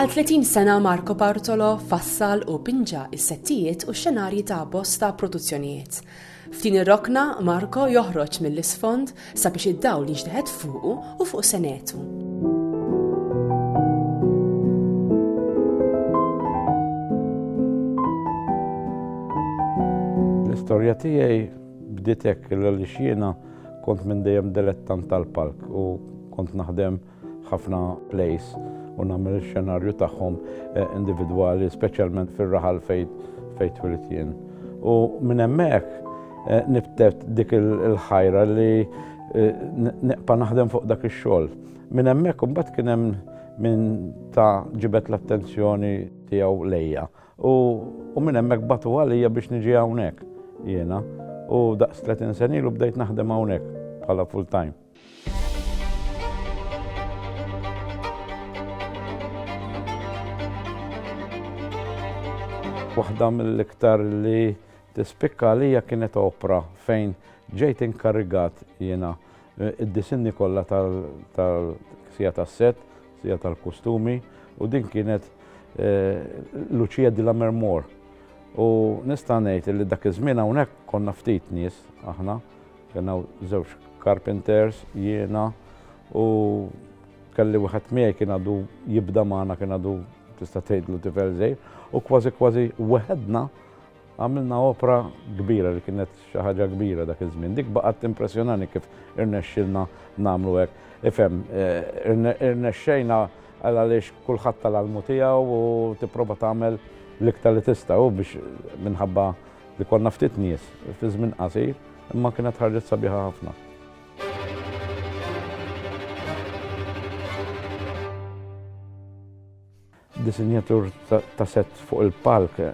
Għal 30 sena Marco Bartolo fassal u pinġa is-settijiet u x-xenarji ta' bosta produzzjonijiet. F'din ir-rokna Marko joħroġ mill-isfond sabiex id-dawl jiġteħed fuqu u fuq senetu. l-istorja tiegħi bditek l-għalix jiena kont minn dejjem delettan tal-palk u kont naħdem ħafna plays u nagħmel ix-xenarju tagħhom eh, individwali, speċjalment fir-raħal fejn fejn twilit jien. U minn hemmhekk eh, nibtet dik il-ħajra li eh, neqpa naħdem fuq dak ix-xogħol. Minn hemmhekk imbagħad kien hemm minn ta' ġibet l-attenzjoni tiegħu lejja. U minn hemmhekk batu għalija biex niġi hawnhekk jiena. U daqs 30 senilu bdejt naħdem hawnhekk bħala full time. Waħda mill-iktar li tispikka għalija kienet opra fejn ġejt inkarrigat jiena eh, id-disinni kollha tal-sija tas-set, sija tal-kustumi u din kienet eh, Lucia di la Mermor. U nista' ngħid li dak iż-żmien hawnhekk konna ftit nies aħna Kien hawn żewġ carpenters, jiena u kelli wieħed miegħi kien għadu jibda magħna kien għadu tista' tgħidlu tifel żejr u kważi kważi weħedna għamilna opra kbira li kienet xi ħaġa kbira dak iż-żmien. Dik baqgħet impressjonani kif irnexxilna nagħmlu hekk. Ifhem, eh, irnexxejna għal għaliex kulħadd tal-almu tiegħu u tipprova tagħmel l-iktar li tista' u biex minħabba Li konna ftit nies fi żmien qasir, imma kienet ħarġet sabiħa ħafna. Disinjatur ta' set fuq il-palk eh,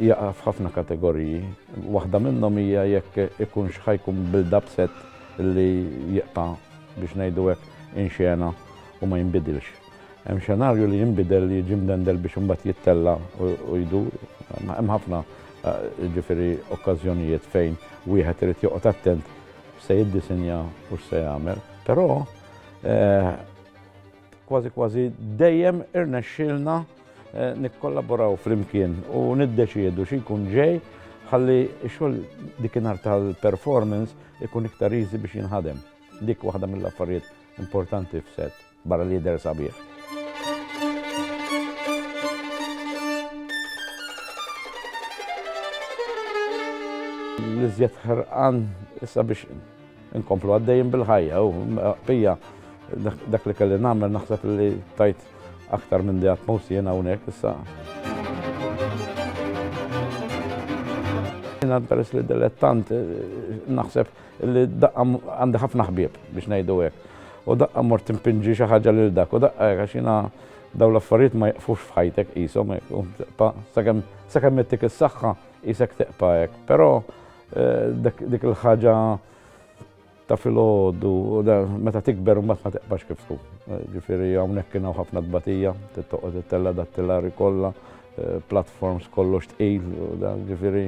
jaqa' f'ħafna kategoriji. Waħda minnhom hija jekk ikun xħajkun build-up set li jibqa' biex ngħidu hekk inxena u ma jinbidilx. Hemm xenarju li jinbidel, li jiġi mdendel biex imbagħad jittella' u jdur. Hemm ħafna jiġifieri okkażjonijiet fejn wieħed irid joqgħod attent x'se jiddisinja u x'se jagħmel. Però kważi kważi dejjem irnexxielna nikkollaboraw flimkien u niddeċiedu xi jkun ġej ħalli x-xogħol dikinhar tal-performance ikun iktar easy biex jinħadem. Dik waħda mill-affarijiet importanti f'set. Barra li jidher sabiħ. L-iżjed ħarqan issa biex inkomplu għaddejjin bil-ħajja u pija dak li kelli nagħmel naħseb li tajt aktar minn di atmos jena unek issa. Jena peress li dilettant naħseb Li daqqa għandi ħafna ħbieb biex ngħidu hekk. U daqqa mort timpinġi xi ħaġa lil dak u daqqa hekk għax jiena dawn l-affarijiet ma jaqfux f'ħajtek qishom hekk. Sakemm sakemm ittik is-saħħa qisek teqpa' hekk. Però eh, dik il-ħaġa ta' filgħodu meta tikber mbagħad ma teqbax kif tkun. Eh, ġifieri hawnhekk kien hawn ħafna tbatija, tittoqgħod it-tella dat-tellari kollha, eh, platforms kollox tqil, ġifieri